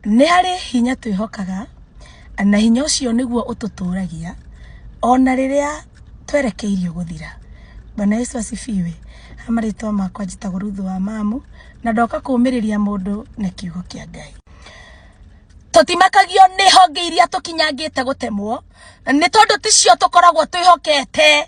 Nĩ harĩ hinya twĩhokaga, na hinya ũcio nĩguo ũtũtũragia ona rĩrĩa twerekeirio gũthira. Bwana Yesu asifiwe. Ha marĩtwa makwa njĩtagwo Ruthu wa Mamu, na ndoka kũmĩrĩria mũndũ na kiugo kĩa Ngai. Tũtimakagio nĩ honge iria tũkinyangĩte gũtemwo, nĩ tondũ ticio tũkoragwo twĩhokete.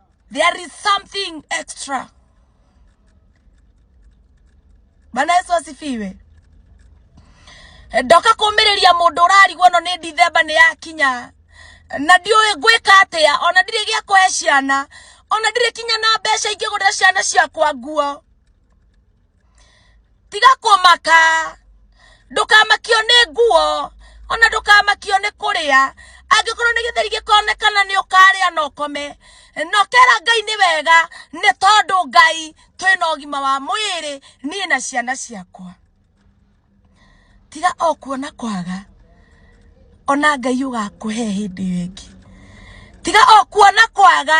There is something extra. Bwana Yesu asifiwe. Ndoka kumiriria mundu urarigwo no ni December ni yakinya. Na ndiuwi ngwika atia ona ndiri gia kuhe ciana ona ndiri kinya na mbeca ingigurira ciana ciakwa nguo. tiga kũmaka ndũkamakio nĩ nguo ona ndũkamakio nĩ kũrĩa angĩkorwo nĩ gĩtheri gĩkonekana nĩ ũkarĩa na ũkome nokera ngai nĩ wega nĩ tondũ ngai twĩna ũgima wa mwĩrĩ niĩ na ciana ciakwa tiga o kuona kwaga ona ngai ũgakũhe hĩndĩ ĩyo ĩngĩ tiga o kuona kwaga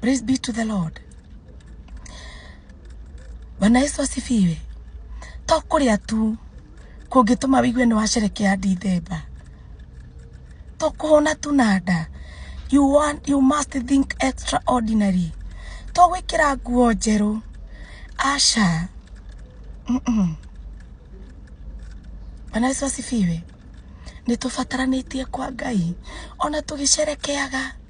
Praise be to the Lord. Bwana Yesu asifiwe. To kũrĩa tu kũngĩtũma wĩigue nĩ wacerekea Dithemba. To kũhũna tu na nda. You, want, you must think extraordinary. To gwĩkĩra nguo njerũ. Aca. Mm -mm. Bwana Yesu asifiwe. Nĩ tũbataranĩtie kwa Ngai. Ona tũgĩcerekeaga.